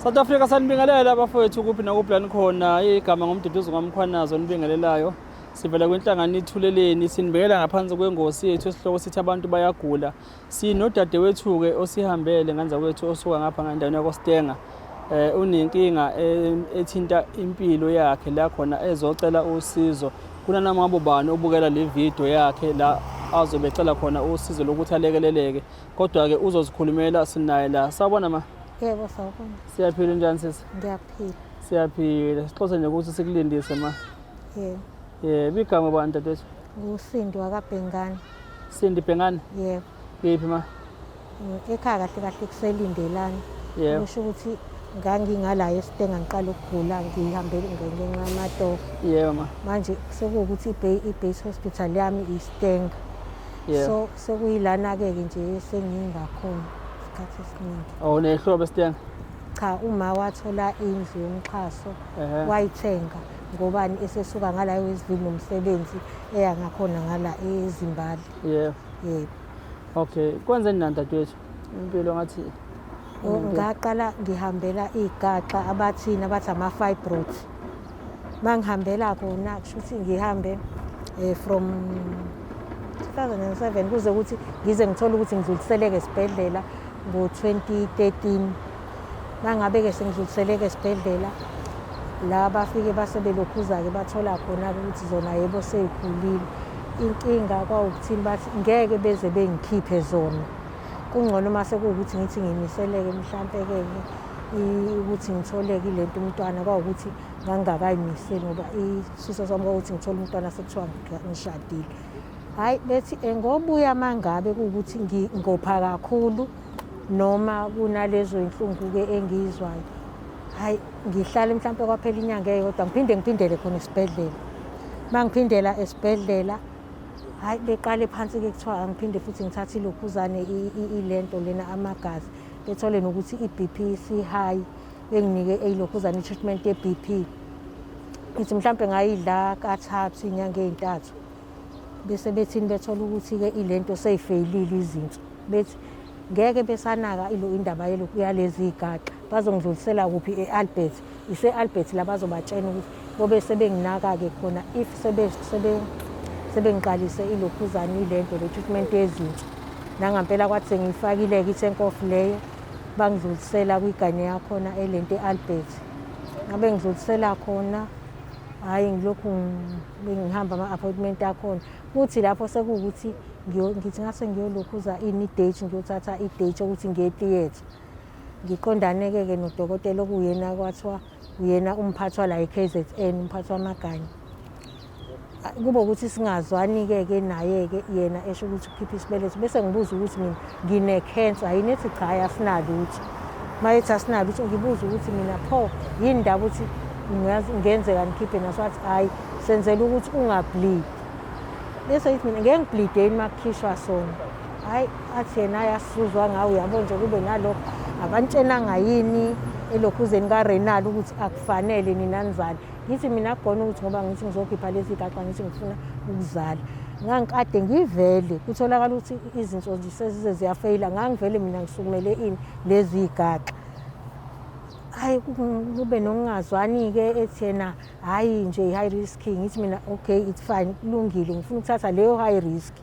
South Africa sanibingelela abafowethu kuphi nakuphi la nikhona igama ngomduduzi kwamkhwanazi onibingelelayo sivela kwenhlangano ithuleleni sinibekela ngaphansi kwengosi yethu esihloko sithi abantu bayagula sinodadewethu-ke osihambele ngenza kwethu osuka ngapha ngendaweni yakostenga um eh, unenkinga ethinta impilo yakhe la khona ezocela usizo kunanamabo bani obukela le vidiyo yakhe la azobe ecela khona usizo lokuthi alekeleleke Kodwa-ke uzozikhulumela sinaye la. Sawubona ma. Yebo sawubona. Siyaphila njani sisi? Ngiyaphila. Siyaphila. Sixose nje ukuthi sikulindise ma. Yebo. Yebo, igama bani dadewethu? Usindi wakabhengane. Sindi Bhengane? Yebo. Kephi ma? Eh, Ekhaya kahle kahle kuselindelani. Yebo. Kusho ukuthi ngangingala esitenga ngiqala ukugula ngihambe ngenxa yamatoho. Yebo ma. Manje sekuwukuthi iBay iBase Hospital yami iStenga. Yeah. so sekuyilana-ke ke nje sengingakhona isikhathi esiningi Oh nehlobo esithenga. cha uma wathola indlu yomxhaso Ehhe. wayithenga ngobani esesuka ngala ewestville nomsebenzi eya ngakhona ngala ezimbali Yebo. yebo Okay. Kwenzeni nani dadewethu? impilo ngathi ngaqala ngihambela iy'gaxa abathini abathi ama-fibroid uma ngihambela kona kusho ukuthi ngihambe um from 2007 kuze ukuthi ngize ngithole ukuthi ngidluliseleke esibhedlela ngo-2013 Mangabe-ke sengidluliseleke esibhedlela la bafike base belokhuza-ke bathola khona-ke ukuthi zona yebo sey'khulile. Inkinga kwawukuthini bathi ngeke beze bengikhiphe zona. Kungcono uma sekuwukuthi ngithi ngiyimiseleke mhlampe-ke ukuthi ngitholeke ile nto umntwana kwawukuthi ngangingakayimiseli ngoba isifiso sami kwawukuthi ngithole umntwana sekuthiwa ngishadile. Hhayi bethi ngobuya uma ngabe kuwukuthi ngopha kakhulu. noma kunalezo inhlungu-ke engiyizwayo hhayi ngihlale mhlawumpe kwaphela inyanga eyodwa ngiphinde ngiphindele khona esibhedlela uma ngiphindela esibhedlela hhayi beqale phansi-ke kuthiwa angiphinde futhi ngithathe ilokhuzane ilento lena amagazi bethole nokuthi i-b p si-high benginike eyilokhuzane i-treatment ye-b p ngithi mhlawumpe ngayidla kathathu iy'nyanga ey'ntathu bese bethini bethola ukuthi-ke ilento seyifeyilile izinso bethi ngeke besanaka ilo indaba yalezi igaxa bazongidlulisela kuphi e-albert ise-albert la bazobatshena ukuthi bobe sebenginaka-ke khona if sebengiqalise ilokhuzane ilento le treatment yezinso nangampela kwathi sengiyifakile-ke i-tenkof leyo bangidlulisela kwigane yakhona elento e-albert ngabe ngidlulisela khona hhayi ngilokhu ngihamba ama-appointment akhona kuthi lapho sekuwukuthi ngithi ngase ngiyolokhuza ini idate ngiyothatha idate yokuthi ngiye theatre ngiqondane-ke-ke nodokotela okuwuyena kwathiwa uyena umphathwa la e-k z n umphathwa amaganya kube ukuthi singazwani-ke ke naye-ke yena esho ukuthi ukhiphe isibeletho bese ngibuza ukuthi mina ngine-cancer yini ethi cha hayi asinalutho uma ethi asinalutho ngibuza ukuthi mina pho yini ndaba ukuthi ngenzeka ngikhiphe naso wathi hhayi senzela ukuthi ungablidi bese yithi mina ngeke ngiblide yini uma kukhishwa sona hhayi athi yena hhayi asizuzwa ngawo uyabo nje kube nalokho akantshenanga yini elokhuzeni karenal ukuthi akufanele nina nizani ngithi mina kugona ukuthi ngoba ngithi ngizokhipha lezi gaxa ngithi ngifuna ukuzala ngangikade ngivele kutholakala ukuthi izinso nje sezize ziyafeyila ngangivele mina ngisukumele ini lezi gaxa hayi kube nokungazwani-ke ethi yena hhayi nje i-high risk ngithi mina okay it's fine kulungile ngifuna ukuthatha leyo high risk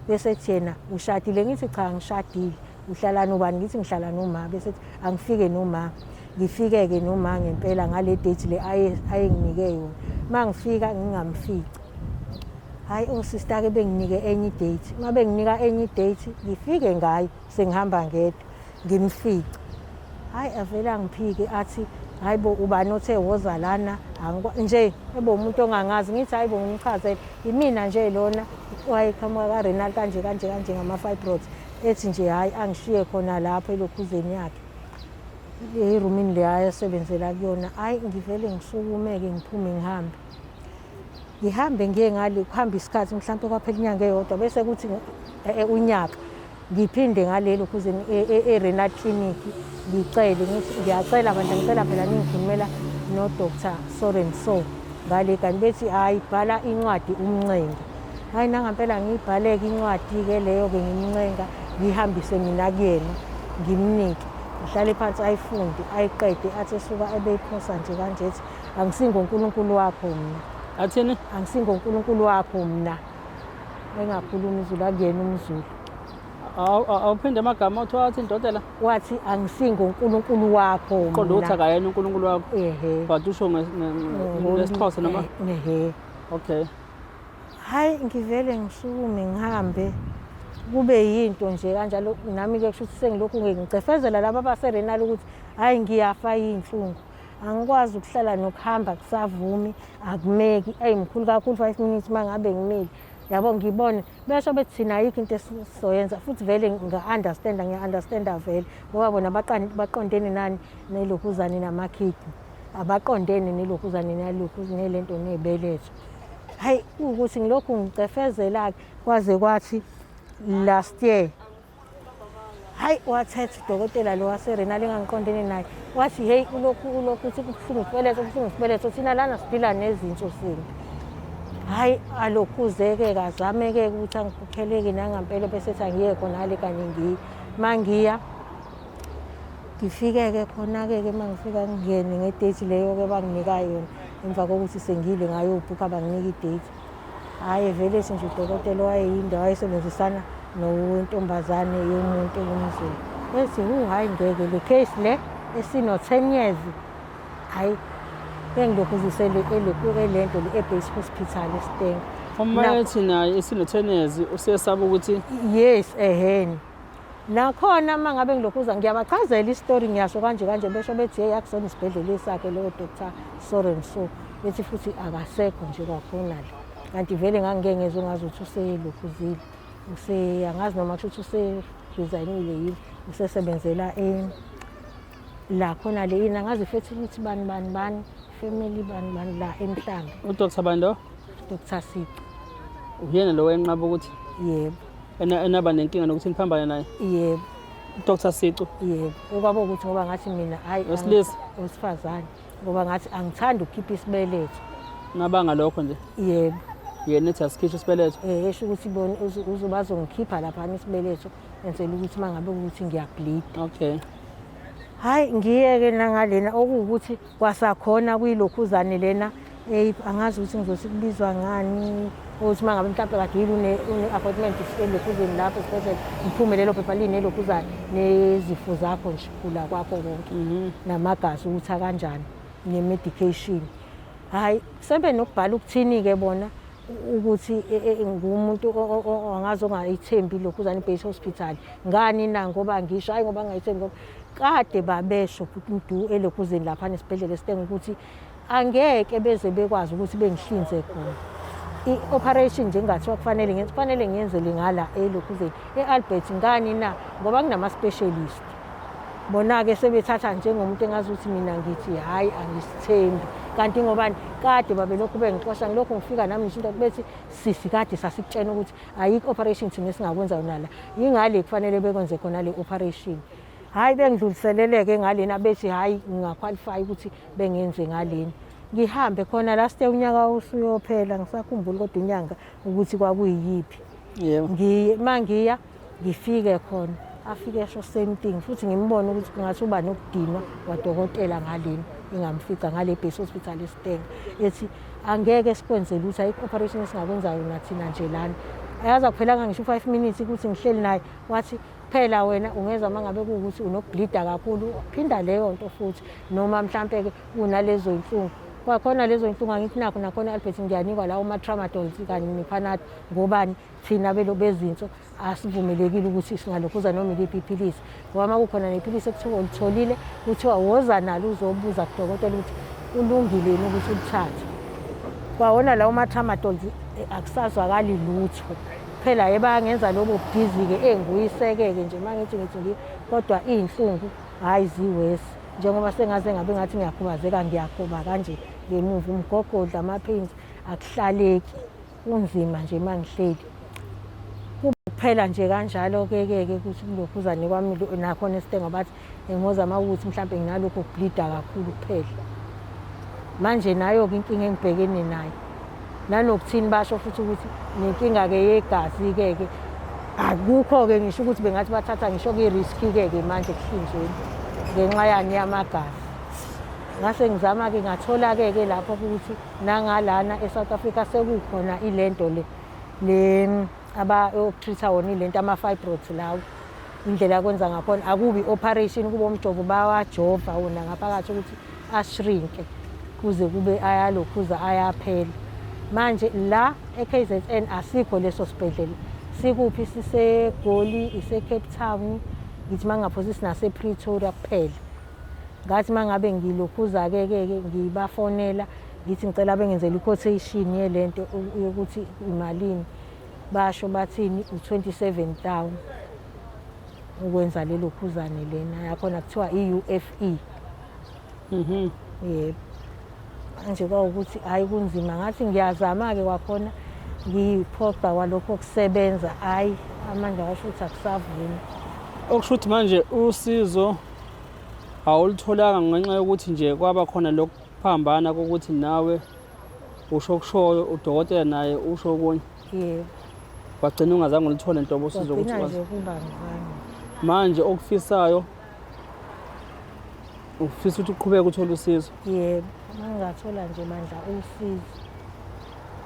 bese ethi yena ushadile ngithi cha ngishadile uhlala nobani ngithi ngihlala noma bese angifike noma ngifike-ke noma ngempela ngale date le ayenginike yona uma ngifika ngingamfici hhayi osista-ke oh, benginike enye idate uma benginika enye idate ngifike ngayo sengihamba ngedwa ngimfice hhayi avele angiphike athi hhayi bo ubani othe woza lana nje ebe umuntu ongangazi ngithi hhayi bo ngimchazele yimina nje lona wayeqhamuka karenal kanje kanje kanje ngama-fibroids ethi nje hhayi angishiye khona lapho elokhuzeni yakhe erumini le ayesebenzela kuyona hhayi ngivele ngisukumeke ngiphume ngihambe ngihambe ngiye ngale kuhambe isikhathi mhlawumpe kwaphela inyanga eyodwa bese kuthi eh, eh, unyaka ngiphinde ngalelo kuze e-renal e, e clinic ngicele ngithi ngiyacela bandla ngicela phela ningikhulumela nodr so and so ngale kanti bethi hhayi bhala incwadi umncengi hhayi nangampela ngiyibhaleke incwadi-ke leyo-ke ngimncenga ngiyihambise mina kuyena ngimnike ngihlale phansi ayifunde ayiqede athi esuka ebeyiphosa nje kanje ethi angisingonkulunkulu wakho mna athini angisingonkulunkulu wakho mna engakhulumi izulu akuyena umzulu awuphinde amagama othiwa wathi indoda la wathi angisingonkulunkulu wakho qonda ukuthi akayena unkulunkulu wakho ehe but usho ngesixhosa noma ehe okay Hayi ngivele ngisukume ngihambe kube yinto nje kanjalo nami-ke kusho ukuthi sengilokhu-ke ngicefezela laba abaserenali ukuthi hhayi ngiyafa yiy'nhlungu angikwazi ukuhlala nokuhamba kusavumi akumeki eyi mkhulu kakhulu five minutes uma ngabe ngimile yabo ngibone besho bethi thina ayikho into esizoyenza futhi vele ngiya-understanda ngiya-understanda vele ngoba bona baqondene nani nelokhuzane namakhidi abaqondene nelokhuzane nalokhuzane lento nebeletho hayi ukuthi ngilokhu ngicefezela-ke kwaze kwathi last year hayi wathetha udokotela lo waserena lengangiqondene naye wathi heyi ulokhu ulokhu uthi kubuhlungu isibeletho kubuhlungu isibeletho thina lana siphila nezinso sini hhayi alokhuzeke kazameke ukuthi angiphupheleki nangampela bese ethi angiye khona ale kanye ngiye uma ngiya ngifike-ke khona-ke-ke uma ngifika ngingene ngedeji leyo-ke banginika yona emva kokuthi sengile ngayobhukha banginika ideji hhayi evelesi nje udokotela owayeyinde wayesebenzisana nontombazane yomuntu yomzulu ethi hu hhayi ngeke le case le esino-ten years hhayi engilokhu uzisele le nto le ebase hospital esitenga uma ethi naye esino-ten years usesaba ukuthi yes eheni Nakhona uma ngabe ngilokhu uza ngiyabachazela isitori ngiyasho kanje kanje besho bethi yeyi akusona isibhedlela esakhe lowo doctor so and so bethi futhi akasekho nje kwakhona le kanti vele ngangike ngezwe ngazi ukuthi uselokhuzile use angazi noma kusho ukuthi useresignile yini usesebenzela la khona le yini angazi futhi ukuthi bani bani bani family bani bani la emhlanga udr bani lo dr sici uyena lo wenqaba ukuthi yebo enaba nenkinga nokuthi niphambane naye yebo Dr Sicu yebo okwabo ukuthi ngoba ngathi mina hayi wesilisa wesifazane ngoba ngathi angithandi ukukhipha isibeletho ngabanga lokho nje yebo yena ethi asikhishwe isibeletho eh esho ukuthi bona uzobazongikhipha lapha isibeletho enzela ukuthi mangabe ukuthi ngiyableed okay hayi ngiyeke nangalena okuwukuthi Kwasakhona kuyilokhuzane lena eyi angazi ukuthi ngizothi kubizwa ngani ukuthi uma ngabe mhlawumpe kade yini une-appointment elokhuzeni lapho esibhedlela ngiphume lelo phepha linelokhuzane nezifo zakho nje gula kwakho konke mhm. namagazi ukuthi akanjani ne-medication hhayi sebe nokubhala ukuthini-ke bona ukuthi e, e, e, ngumuntu angazi ongayithembi lokhuzane base hospital ngani na ngoba ngisho hhayi ngoba ngingayithembi ngoba kade babesho futhi udu elekhuzeni lapha nesibhedlela esitenga ukuthi angeke beze bekwazi ukuthi bengihlinze khona i-operation nje ngathiwa kufanele ngenze kufanele ngiyenzele ngala elokhuzeni e-albert ngani na ngoba kunama-specialist bona-ke sebethatha njengomuntu engazi ukuthi mina ngithi hhayi angisithembi kanti ngobani kade babelokhu bengixosha ngilokhu ngifika nami ngisho into bethi sisi kade sasikutshena ukuthi ayikho operation thina esingakwenza yona la yingale kufanele bekwenze khona le operation hayi bengidluliseleleke ngalena bethi hayi ngingaqualify ukuthi bengenze ngalena ngihambe khona last year unyaka usuyophela ngisakhumbula kodwa inyanga ukuthi kwakuyiyiphi yebo ngiye mangiya ngifike khona afike esho same thing futhi ngimbone ukuthi kungathi uba nokudinwa kwadokotela ngalena engamfica ngale base hospital esitenga ethi angeke sikwenze lutho ayikho operation esingakwenzayo nathina nje lana ayaza kuphelanga ngisho u-five minutes ukuthi ngihleli naye wathi phela wena ungezwa uma ngabe kuwukuthi unokublida kakhulu phinda leyo nto futhi noma mhlampe-ke unalezo yinhlungu kwakhona lezo nhlungu angithi nakho nakhona albert ngiyanikwa lawo ma-tramadols kanye ne-panad ngobani thina belo bezinso asivumelekile ukuthi singalokhuza noma iliphi iphilisi ngoba uma kukhona nephilisi ekuthiwa ulitholile kuthiwa woza nalo uzobuza kudokotela ukuthi ulungile yini ukuthi ulithathe kwawona lawo ma-tramadol eh, akusazwakali lutho phela ye bayangenza lobo bhizi-ke engiyiseke-ke nje uma ngithi ngithi ngi kodwa iy'nhlungu hhayi ziwesi njengoba sengaze ngabe ngathi ngiyakhubazeka ngiyakhoba kanje ngemuva umgogodla ama-pains akuhlaleki Kunzima nje mangihleli. Kuphela nje kanjalo ke ke ke kuthi kulokhuzane kwami nakhona esitengo bathi ngingozama ukuthi mhlawumbe nginalokho kubleeda kakhulu kuphela. Manje nayo ke inkinga engibhekene nayo. Nanokuthini basho futhi ukuthi nenkinga ke yegazi ke ke akukho ke ngisho ukuthi bengathi bathatha ngisho ke risk ke ke manje kuhlinzweni ngenxa yani yamagazi. Ngase ngizama ke ngathola ke ke lapho ukuthi Nangalana eSouth Africa sekukhona ilento le le abayokutreat-a wona ilento ama-fibroids lawo indlela akwenza ngakhona akubi operation kuba umjovo bawajova wona ngaphakathi ukuthi ashrinke kuze kube ayalokhuza ayaphela manje la e-KZN asikho leso sibhedlela sikuphi sisegoli ise-cape town ngithi uma ngingaphosisi nasepretoria kuphela Ngathi uma ngabe ngilokhuza-ke-ke ngibafonela ngithi ngicela bengenzela i-quotation yele nto yokuthi imalini basho bathini u-27 town ukwenza lelo khuzane lena yakhona kuthiwa i-ufe mhm. yebo manje kwawukuthi hhayi kunzima ngathi ngiyazama-ke kwakhona ngiyiphoqa kwalokho kusebenza hhayi amandla washo ukuthi akusavumi okusho ukuthi manje usizo awulitholanga ngenxa yokuthi nje kwaba khona lokuphambana kokuthi nawe usho okushoyo udokotela naye usho okunye yebo wagcina ungazange ulithole nhlobo usizo ukuthi nje ukuba ngizange manje okufisayo ufisa ukuthi uqhubeke uthole usizo yebo mangingathola nje mandla usizo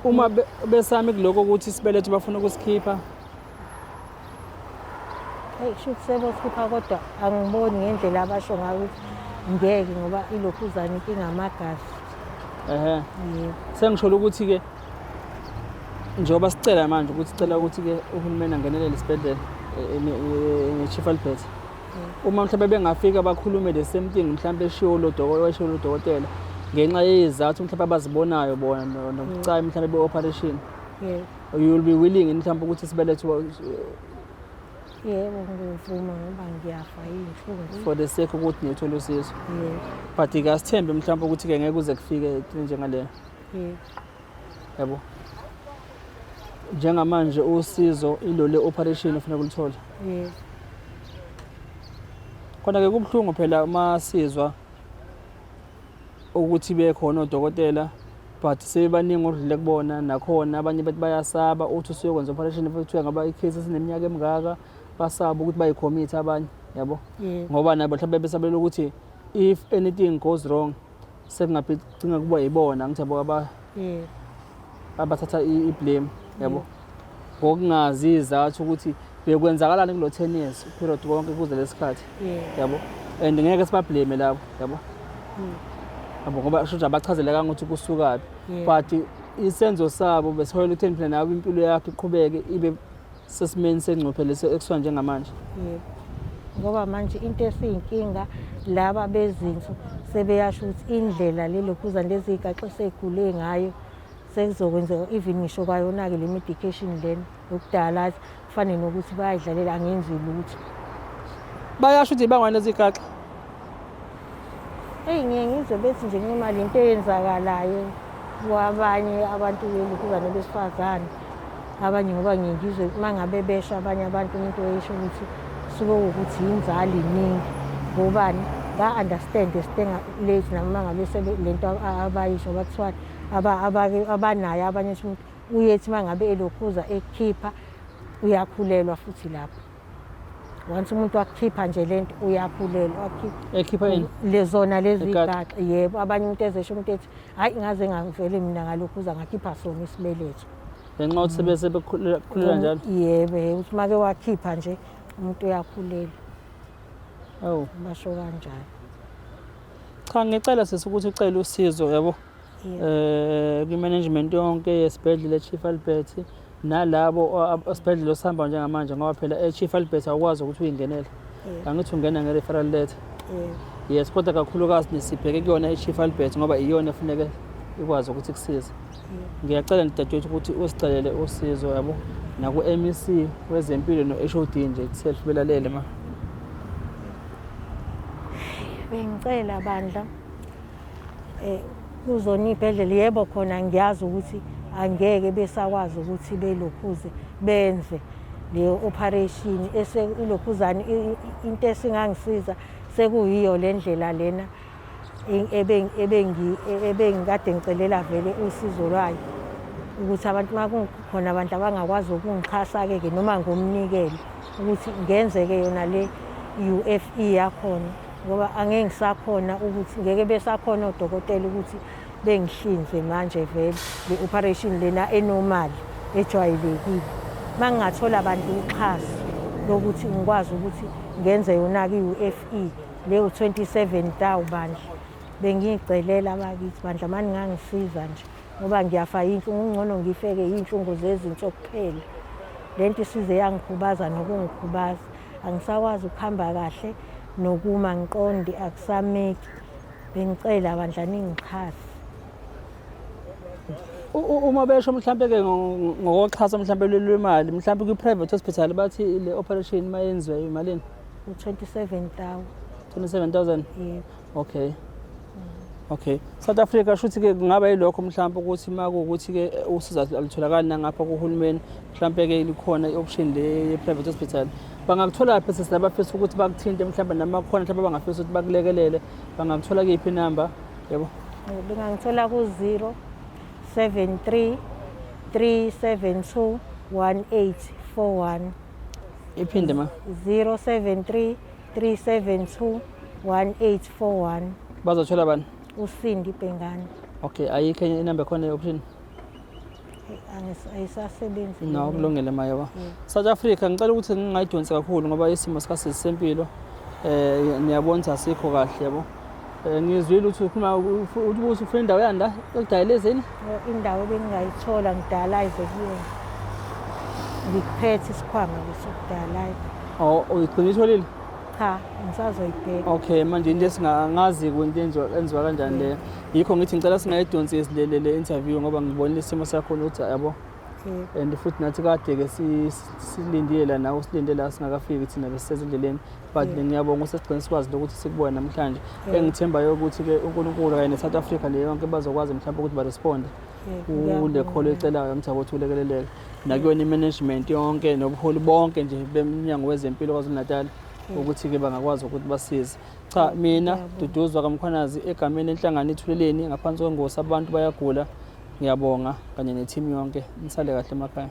uma besami kuloko ukuthi isibeletho bafuna ukusikhipha Hey, shuthi sebokhipha kodwa angiboni ngendlela abasho ngayo ukuthi ngeke ngoba ilokhuzana inkinga amagazi. Ehhe. Yebo. Sengisholo ukuthi ke njengoba sicela manje ukuthi sicela ukuthi ke uhulumeni angenelele isibhedlela eh, eh, ne- eh, ne-Chief Albert. Uma mhlawumbe bengafika bakhulume the same thing mhlawumbe eshiwo lo dokotela eshiwo lo dokotela ngenxa yezizathu mhlawumbe abazibonayo bona no- nobucayi mhlawumbe be-operation. Yebo. You will be willing in mhlawumbe ukuthi sibelethe uba- yebo ngivuma ngoba ngiyafa yinhlungu for the sake ukuthi niyothola usizo. yebo But ke asithembe mhlawumbe ukuthi ke ngeke kuze kufike into njengaleyo. yebo Yabo. Njengamanje usizo ilole operation ufuna kulithola. yebo Khona ke kubuhlungu phela uma sizwa ukuthi bekhona odokotela but sebebaningi odlule kubona nakhona abanye bethi bayasaba uthi usuyokwenza operation kuthiwa ngaba icase esineminyaka emingaka basaba ukuthi bayikhomithe abanye yabo ngoba nabo mhlawumbe besabela ukuthi if anything goes wrong sekungabe cinga kuba yibona ngithi yabo Yebo. Abathatha i- i-blame yabo. Ngokungazi izathu ukuthi bekwenzakalani kulo 10 years period konke kuze lesikhathi Yebo. yabo. And ngeke sibablame labo yabo. Yabo ngoba kusho ukuthi abachazelekanga ukuthi kusukaphi. Yebo. But isenzo sabo besiholela ukuthi phela nawe impilo yakhe iqhubeke ibe sesimeni sengcuphe lesi ekuthiwa njengamanje yebo ngoba manje into esiyinkinga laba bezinso sebeyasho ukuthi indlela lelokhuzane leziyigaxo segule ngayo sekuzokwenzeka even ngisho kwayona-ke le medication lena yokudala kufane nokuthi bayayidlalela angenzi lutho bayasho ukuthi ibangwane ezigaxa eyi ngiye ngizwe bethi nje kumali into eyenzakalayo kwabanye abantu belukuzane besifazane abanye ngoba ngiye ngizwe uma ngabe besho abanye abantu umuntu oyisho ukuthi suke ukuthi yinzali iningi ngobani ba-understand esitenga late noma ngabe le nto abayisho bathiwani abanayo abanye ukuthi uyethi uma ngabe elokhuza ekhipha uyakhulelwa futhi lapho once umuntu wakukhipha nje le nto uyakhulelwa ekhipha yini lezona lezi igaxa yebo abanye umuntu ezesho umuntu ethi hhayi ngaze ngavele mina ngalokhu uza ngakhipha sona isibeletho ngenxa yokuthi sebese bekhulelwa njalo yebo ukuthi make wakhipha nje umuntu uyakhulelwa awu basho kanjalo cha ngicela sisi ukuthi ucele usizo yabo eh kwi-management yonke yesibhedlela eChief Albert nalabo osibhedlela osihamba njengamanje ngoba phela eChief Albert awukwazi ukuthi uyingenele angithi ungena nge-referral letter yes kodwa kakhulukazi nisibheke kuyona eChief Albert ngoba iyona efuneke ikwazi ukuthi kusize ngiyacela nidadewethu ukuthi usicelele usizo yabo naku-mec wezempilo no-hod nje itself belalele ma bengicela bandla Eh, kuzona iy'bhedlela yebo khona ngiyazi ukuthi angeke besakwazi ukuthi belokhuze benze le operation eselokhuzane into esingangisiza sekuyiyo le ndlela lena ebengikade ngicelela vele usizo lwayo ukuthi abantu uma kukhona abantu abangakwazi ukungixhasa-ke-ke noma ngomnikele ukuthi ngenzeke yona le U_F_E yakhona ngoba angeke ngisakhona ukuthi ngeke besakhona odokotela ukuthi bengihlinze manje vele le operation lena enormal ejwayelekile uma ngingathola abantu uxhaso lokuthi ngikwazi ukuthi ngenze yona-ke i-UFE le u-27 tawu bandla bengiyicelela bakithi bandla mani ngangisiza nje ngoba ngiyafa yinhlungu kungcono ngifeke yinhlungu zezinso kuphela lento isize yangikhubaza nokungikhubaza angisakwazi ukuhamba kahle nokuma ngiqonde akusameki bengicela bandla ningixhase uma besho mhlambe ke ngokuxhasa mhlambe lwemali mhlambe kwi private hospital bathi le operation mayenziwe imalini 27000 27000 yebo okay okay south africa shuthi ke kungaba yilokho mhlawumbe ukuthi uma kuwukuthi ke usiza alutholakali nangapha kuhulumeni mhlawumbe ke likhona i-option le ye-private hospital bangakuthola phi sisi labafisa ukuthi bakuthinte mhlawumbe noma khona mhlawumbe abangafisa ukuthi bakulekelele bangakuthola kuyiphi inamba yebo bengangithola ku-zero seven three three seven two one eight four one iphinde ma zero seven three 372 1841 bazothola bani usindi bhengane okay ayikho enye inamba khona i-option ayisasebenzi no kulungele maye ba mm. south africa ngicela ukuthi ngingayidonsi kakhulu ngoba isimo sikasisi sempilo um eh, niyabona ukuthi asikho kahle yabo Eh, ngizwile ukuthi ukhuluma ukuthi ubuso ufuna indawo yani la ekudayelezeni indawo bengingayithola ngidala ayize kuyona ngikuphethe isikhwama leso kudala oh uyigcina itholile cha ngisazoyibheka okay manje into esingangazi kwinto enziwa kanjani le yikho ngithi ngicela singayidonsi esilelele interview ngoba ngibonile isimo sakho ukuthi yabo and futhi nathi kade-ke silindile la nawe usilinde la singakafiki thina besisezindleleni but mina ngiyabonga usesigcine sikwazi lokuthi sikubone namhlanje engithembayo ukuthi-ke unkulunkulu kanye ne-south africa le yonke bazokwazi mhlawumbe ukuthi baresponde kule kholo ecelayo mtha ukuthi ulekeleleke nakuyona i-management yonke nobuholi bonke nje bemnyango wezempilo kwazulu-natal ukuthi-ke bangakwazi ukuthi basize cha mina duduzwa kamkhwanazi egameni enhlangano ethuleleni ngaphansi kwengosi abantu bayagula ngiyabonga kanye nethimu yonke nisale kahle emakhaya